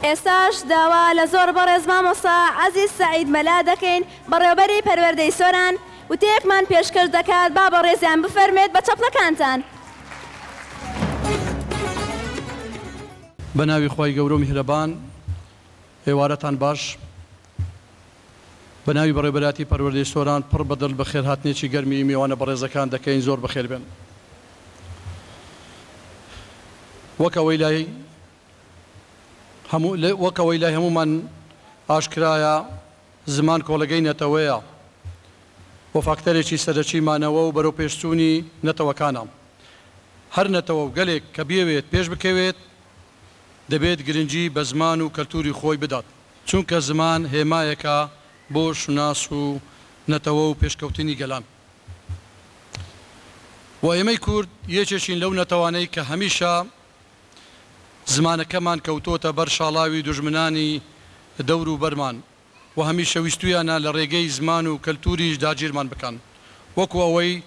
ئێستاش داوا لە زۆر بەڕێز مامۆستا عەزیز سەعید مەلا دەکەین بەڕێوبەری پەروەردەی سۆران وتەیەکمان پێشکەش دەکات با بەڕێزیان بفەرموێت بە چەپڵەکانتان. بەناوی خوای گەورەو میهرەبان ئێوارەتان باش بەناوی بەڕێوبەرایەتی پەروەردەی سۆران پڕ بەدڵ بەخێرهاتنێکی گەرمی مێوانە بەڕێزەکان دەکەین زۆر بەخێربێن وەک ئەوەی لای وەک ئەوەی لای هەموومان ئاشکرایە زمان کۆڵگەی نەتەوەیە و فاکتەرێکی سەرەکی مانەوە و بەرەوپێشچوونی نەتەوەکانە. هەر نەتەوە و گەلێک کە بیەوێت پێشبکەوێت دەبێت گرنگی بە زمان و کەلتووری خۆی بدات، چونکە زمان هێمایەکە بۆ شوناس و نەتەوە و پێشکەوتنی گەلان و ئێمەی کورد یەکێکین لەو نەتەوانەی کە هەمیشە. زمانەکەمان کەوتۆتە بەر شاڵاوی دوژمنانی دەورو بەرمان و هەمیشە ویستویانە لە ڕێگەی زمان و کەلتوریش داگیرمان بکەن وەکو ئەوەی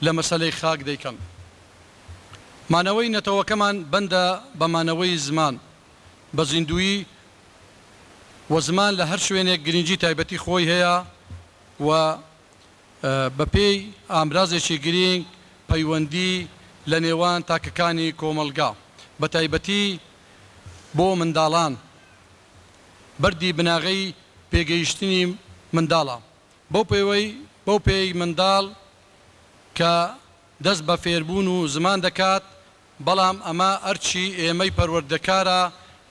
لە مەسەلەی خاک دەیکەن. مانەوەی نەتەوەکەمان بەندە بە مانەوەی زمان بە زیندویی و زمان لە هەر شوێنێک گرینگی تایبەتی خۆی هەیە و بەپێی ئامرازێکی گرینگ پەیوەندی لە نێوان تاکەکانی کۆمەڵگا بەتایبەتی بۆ منداڵان بەردی بناغەی پێگەیشتنی منداڵە بەو پێوەی بەو پێی منداڵ کە دەست بە فێربوون و زمان دەکات بەڵام ئەمە ئەرکی ئێمەی پەروەردەکارە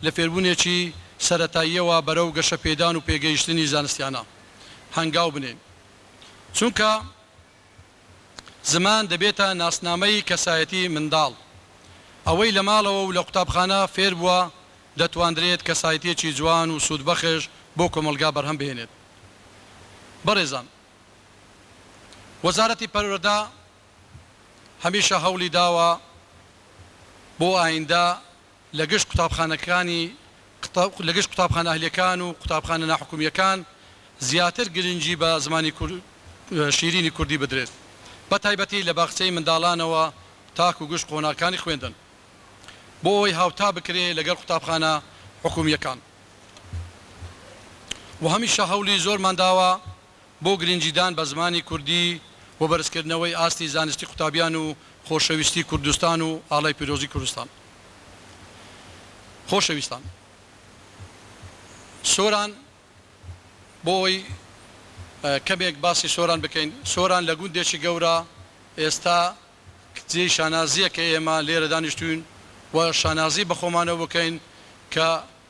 لە فێربوونێکی سەرەتاییەوە بەرەو گەشەپێدان و پێگەیشتنی زانستیانە هەنگاو بنێین، چونکە زمان دەبێتە ناسنامەی کەسایەتی منداڵ، ئەوەی لە ماڵەوە و لە قوتابخانە فێربووە دەتواندرێت کەسایەتیەکی جوان و سوودبەخش بۆ کۆمەڵگا بەرهەم بهێنێت. بەڕێزان وەزارەتی پەروەردە. هەمیشە هەوڵی داوە بۆ ئایندە لە گشت قوتابخانەکانی لە گشت قوتابخانە ئەهلیەکان و قوتابخانە ناحکومیەکان زیاتر گرنگی بە زمانی شیرینی کوردی بدرێت بە تایبەتی لە باخچەی منداڵانەوە تاکو گشت قۆناغکانی خوێندن بۆ ئەوەی هاوتا بکرێ لەگەڵ قوتابخانە حکومیەکان و هەمیشە هەوڵی زۆرمان داوە بۆ گرنگیدان بە زمانی کوردی و بەرزکردنەوەی ئاستی زانستی قوتابیان و خۆشەویستی کوردستان و ئاڵای پیرۆزی کوردستان خۆشەویستان سۆران بۆ ئەوەی کەمێک باسی سۆران بکەین سۆران لە گوندێکی گەورە ئێستا جێی شانازییە کە ئێمە لێرە دانیشتووین و شانازی بە خۆمانەوە بکەین کە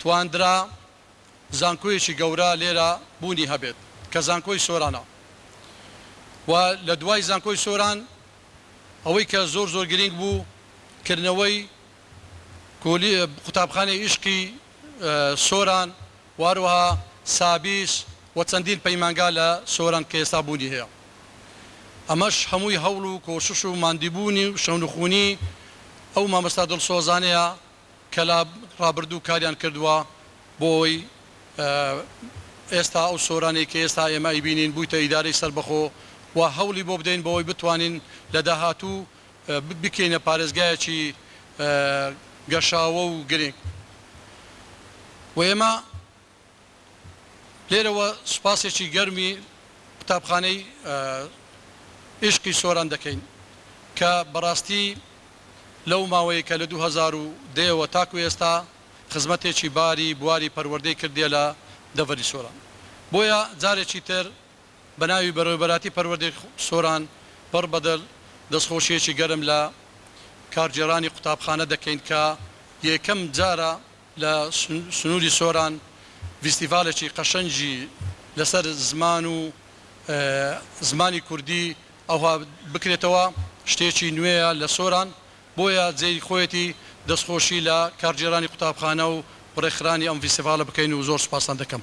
تواندرا زانکۆیەکی گەورە لێرە بوونی هەبێت کە زانکۆی سۆرانە و لە دوای زانکۆی سۆران ئەوەی کە زۆر زۆر گرینگ بوو کردنەوەی کولی قوتابخانەی ئیشقی سۆران و هەروەها سابیس و چەندین پەیمانگا لە سۆران کە ئێستا بوونی هەیە ئەمەش هەمووی هەوڵ و کۆشش و ماندیبوونی و شەونخونی ئەو مامۆستا دڵسۆزانەیە کە لە ڕابردوو کاریان کردووە بۆ ئەوەی ئێستا ئەو سۆرانەی کە ئێستا ئێمە ئەیبینین بوویتە ئیدارەی سەربەخۆ و هەوڵی بۆ بدەین بۆ ئەوەی بتوانین لە داهاتوو بیکەینە پارێزگایەکی گەشاوە و گرنگ و ئێمە لێرەوە سوپاسێکی گەرمی قوتابخانەی ئیشقی سۆران دەکەین کە بەڕاستی لەو ماوەی کە لە دوو هەزار و دە ەوە تاکو ئێستا خزمەتێکی باری بواری پەروەردەی کردیە لە دەڤەری سۆران بۆیە جارێکی تر بە ناوی بەڕێوەبەراتی پەروەردەی سۆران پڕ بە دڵ دەستخۆشیەکی گەرم لە کارگێڕانی قوتابخانە دەکەین کە یەکەم جارە لە سنووری سۆران ڤیستیڤالێکی قەشەنگی لەسەر زمان و زمانی کوردی ئەوها بکرێتەوە شتێکی نوێیە لە سۆران بۆیە جێی خۆیەتی دەستخۆشی لە کارگێرانی قوتابخانە و ڕێکخرانی ئەم ڤیستیڤالە بکەین و زۆر سوپاستان دەکەم.